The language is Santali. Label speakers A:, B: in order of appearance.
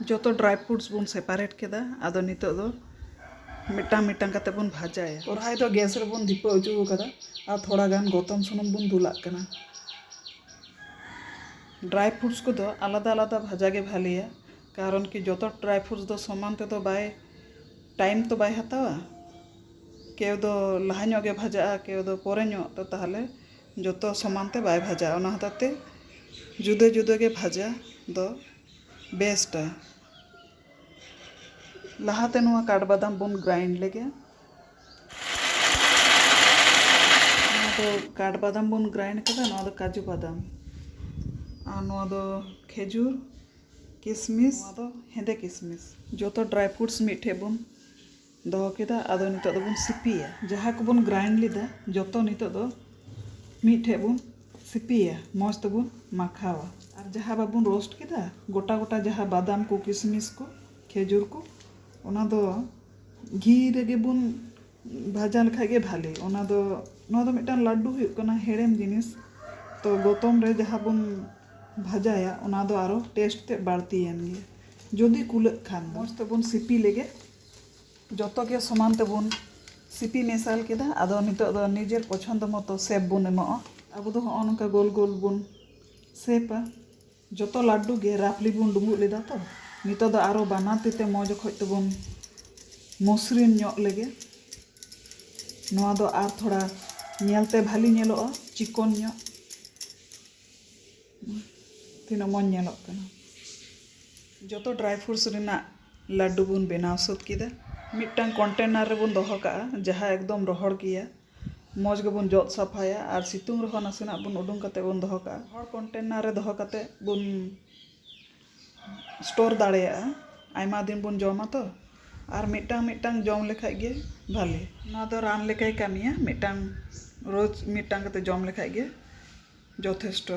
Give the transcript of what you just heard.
A: ᱡᱚᱛᱚ ᱰᱨᱟᱭ ᱯᱷᱨᱩᱴᱥ ᱵᱚᱱ ᱥᱮᱯᱟᱨᱮᱴ ᱠᱮᱫᱟ ᱟᱫᱚ ᱱᱤᱛᱚᱜ ᱫᱚ ᱢᱤᱫᱴᱟᱝ ᱢᱤᱫᱴᱟᱝ ᱠᱟᱛᱮ ᱵᱚᱱ ᱵᱷᱟᱡᱟᱭᱟ ᱠᱚᱲᱦᱟᱭ ᱫᱚ ᱜᱮᱥ ᱨᱮᱵᱚᱱ ᱫᱷᱤᱯᱟᱹ ᱚᱪᱚ ᱟᱠᱟᱫᱟ ᱟᱨ ᱛᱷᱚᱲᱟ ᱜᱟᱱ ᱜᱚᱛᱚᱢ ᱥᱩᱱᱩᱢ ᱵᱚᱱ ᱫᱩᱞᱟᱜ ᱠᱟᱱᱟ ᱰᱨᱟᱭ ᱯᱷᱨᱩᱴᱥ ᱠᱚᱫᱚ ᱟᱞᱟᱫᱟ ᱟᱞᱟᱫᱟ ᱵᱷᱟᱡᱟ ᱜᱮ ᱵᱷᱟᱞᱮᱭᱟ ᱠᱟᱨᱚᱱ ᱠᱤ ᱡᱚᱛᱚ ᱰᱨᱟᱭ ᱯᱷᱨᱩᱴᱥ ᱫᱚ ᱥᱚᱢᱟᱱ ᱛᱮᱫᱚ ᱵᱟᱭ ᱴᱟᱭᱤᱢ ᱛᱚ ᱵᱟᱭ ᱦᱟᱛᱟᱣᱟ ᱠᱮᱣ ᱫᱚ ᱞᱟᱦᱟ ᱧᱚᱜ ᱜᱮ ᱵᱷᱟᱡᱟᱜᱼᱟ ᱠᱮᱣ ᱫᱚ ᱯᱚᱨᱮ ᱧᱚᱜ ᱛᱚ ᱛᱟᱦᱚᱞᱮ ᱡᱚᱛᱚ ᱥᱚᱢᱟᱱ ᱛᱮ ᱵᱟᱭ ᱵᱷᱟᱡᱟᱜᱼᱟ ᱚᱱᱟ ᱦᱚᱛᱮᱡ ᱛᱮ ᱡᱩᱫᱟᱹ ᱡᱩᱫᱟᱹ ᱜᱮ ᱵᱷᱟᱡᱟ ᱫᱚ ᱵᱮᱥᱴᱟ ᱞᱟᱦᱟᱛᱮ ᱱᱚᱣᱟ ᱠᱟᱴᱵᱟᱫᱟᱢ ᱵᱚᱱ ᱜᱨᱟᱭᱤᱱᱰ ᱞᱮᱜᱮ ᱱᱚᱣᱟ ᱫᱚ ᱠᱟᱴᱵᱟᱫᱟᱢ ᱵᱚᱱ ᱜᱨᱟᱭᱤᱱᱰ ᱠᱮᱫᱟ ᱱᱚᱣᱟ ᱫᱚ ᱠᱟᱡᱩ ᱵᱟᱫᱟᱢ ᱟᱨ ᱱᱚᱣᱟ ᱫᱚ ᱠᱷᱮᱡᱩᱨ ᱠᱤᱥᱢᱤᱥ ᱱᱚᱣᱟ ᱫᱚ ᱦᱮᱸᱫᱮ ᱠᱤᱥᱢᱤᱥ ᱡᱚᱛᱚ ᱰᱨᱟᱭ ᱯᱷᱨᱩᱴᱥ ᱢᱤᱫ ᱴᱷᱮᱱ ᱵᱚᱱ ᱫᱚᱦᱚ ᱠᱮᱫᱟ ᱟᱫᱚ ᱱᱤᱛᱚᱜ ᱫᱚᱵᱚᱱ ᱥᱤᱯᱤᱭᱟ ᱡᱟᱦᱟᱸ ᱠᱚᱵᱚᱱ ᱜᱨᱟᱭᱤᱱᱰ ᱞᱮᱫᱟ ᱡᱚᱛᱚ ᱱᱤᱛᱚᱜ ᱫᱚ ᱢᱤᱫ ᱴᱷᱮᱱ ᱵᱚᱱ ᱥᱤᱯᱤᱭᱟ ᱢᱚᱡᱽ ᱛᱮᱵᱚᱱ ᱢᱟᱠᱷᱟᱣᱟ ᱟᱨ ᱡᱟᱦᱟᱸ ᱵᱟᱵᱚᱱ ᱨᱳᱥᱴ ᱠᱮᱫᱟ ᱜᱚᱴᱟ ᱜᱚᱴᱟ ᱡᱟᱦᱟᱸ ᱵᱟᱫᱟᱢ ᱠᱚ ᱠᱤᱥᱢᱤᱥ ᱠᱚ ᱠᱷᱮᱡᱩᱨ ᱠᱚ ᱚᱱᱟ ᱫᱚ ᱜᱷᱤ ᱨᱮᱜᱮ ᱵᱚᱱ ᱵᱷᱟᱡᱟ ᱞᱮᱠᱷᱟᱱ ᱜᱮ ᱵᱷᱟᱹᱞᱤ ᱚᱱᱟ ᱫᱚ ᱱᱚᱣᱟ ᱫᱚ ᱢᱤᱫᱴᱟᱝ ᱞᱟᱹᱰᱩ ᱦᱩᱭᱩᱜ ᱠᱟᱱᱟ ᱦᱮᱲᱮᱢ ᱡᱤᱱᱤᱥ ᱛᱚ ᱜᱚᱛᱚᱢ ᱨᱮ ᱡᱟᱦᱟᱸ ᱵᱚᱱ ᱵᱷᱟᱡᱟᱭᱟ ᱚᱱᱟ ᱫᱚ ᱟᱨᱚ ᱴᱮᱥᱴ ᱛᱮᱫ ᱵᱟᱹᱲᱛᱤᱭᱮᱱ ᱜᱮ ᱡᱩᱫᱤ ᱠᱩᱞᱟᱹᱜ ᱠᱷᱟᱱ ᱢᱚᱡᱽ ᱛᱮᱵᱚᱱ ᱥᱤᱯᱤ ᱞᱮᱜᱮ ᱡᱚᱛᱚ ᱜᱮ ᱥᱚᱢᱟᱱ ᱛᱮᱵᱚᱱ ᱥᱤᱯᱤ ᱢᱮᱥᱟᱞ ᱠᱮᱫᱟ ᱟᱫᱚ ᱱᱤᱛᱚᱜ ᱫᱚ ᱱᱤᱡᱮᱨ ᱯᱚᱪᱷᱚᱱᱫᱚ ᱢᱚᱛᱚ ᱥᱮᱯ ᱵᱚᱱ ᱮᱢᱚᱜᱼᱟ ᱟᱵᱚ ᱫᱚ ᱦᱚᱸᱜᱼᱚ ᱱᱚᱝᱠᱟ ᱜᱳᱞ ᱜᱳᱞ ᱵᱚᱱ ᱥᱮᱯᱟ ᱡᱚᱛᱚ ᱞᱟᱹᱰᱩ ᱜᱮ ᱨᱟᱯᱷᱞᱤ ᱵᱚᱱ ᱰᱩᱸᱵᱩᱜ ᱞᱮᱫᱟ ᱛᱚ ᱱᱤᱛᱚᱜ ᱫᱚ ᱟᱨᱚ ᱵᱟᱱᱟᱨ ᱛᱤ ᱛᱮ ᱢᱚᱡᱽ ᱚᱠᱚᱡ ᱛᱮᱵᱚᱱ ᱢᱚᱥᱨᱤᱱ ᱧᱚᱜ ᱞᱮᱜᱮ ᱱᱚᱣᱟ ᱫᱚ ᱟᱨ ᱛᱷᱚᱲᱟ ᱧᱮᱞᱛᱮ ᱵᱷᱟᱹᱞᱤ ᱧᱮᱞᱚᱜᱼᱟ ᱪᱤᱠᱚᱱ ᱧᱚᱜ ᱛᱤᱱᱟᱹᱜ ᱢᱚᱡᱽ ᱧᱮᱞᱚᱜ ᱠᱟᱱᱟ ᱡᱚᱛᱚ ᱰᱨᱟᱭ ᱯᱷᱨᱩᱴᱥ ᱨᱮᱱᱟᱜ ᱞᱟᱹᱰᱩ ᱵᱚᱱ ᱵᱮᱱᱟᱣ ᱥᱟᱹᱛ ᱠᱮᱫᱟ ᱢᱤᱫᱴᱟᱝ ᱠᱚᱱᱴᱮᱱᱟᱨ ᱨᱮᱵᱚᱱ ᱫᱚᱦᱚ ᱠᱟᱜᱼᱟ ᱡᱟᱦᱟᱸ ᱮᱠᱫᱚᱢ ᱨᱚᱦᱚᱲ ᱜᱮᱭᱟ ᱢᱚᱡᱽ ᱜᱮᱵᱚᱱ ᱡᱚᱫ ᱥᱟᱯᱷᱟᱭᱟ ᱟᱨ ᱥᱤᱛᱩᱝ ᱨᱮᱦᱚᱸ ᱱᱟᱥᱮᱱᱟᱜ ᱵᱚᱱ ᱩᱰᱩᱝ ᱠᱟᱛᱮ ᱵᱚᱱ ᱫᱚᱦᱚ ᱠᱟᱜᱼᱟ ᱨᱚᱦᱚᱲ ᱠᱚᱱᱴᱮᱱᱟᱨ ᱨᱮ ᱫᱚᱦᱚ ᱠᱟᱛᱮ ᱵᱚᱱ ᱥᱴᱳᱨ ᱫᱟᱲᱮᱭᱟᱜᱼᱟ ᱟᱭᱢᱟ ᱫᱤᱱ ᱵᱚᱱ ᱡᱚᱢᱟ ᱛᱚ ᱟᱨ ᱢᱤᱫᱴᱟᱝ ᱢᱤᱫᱴᱟᱝ ᱡᱚᱢ ᱞᱮᱠᱷᱟᱡ ᱜᱮ ᱵᱷᱟᱞᱮ ᱱᱚᱣᱟ ᱫᱚ ᱨᱟᱱ ᱞᱮᱠᱟᱭ ᱠᱟᱹᱢᱤᱭᱟ ᱢᱤᱫᱴᱟᱝ ᱨᱳᱡᱽ ᱢᱤᱫᱴᱟᱝ ᱠᱟᱛᱮ ᱡᱚᱢ ᱞᱮᱠᱷᱟᱡ ᱜᱮ ᱡᱚᱛᱷᱮᱥᱴᱚ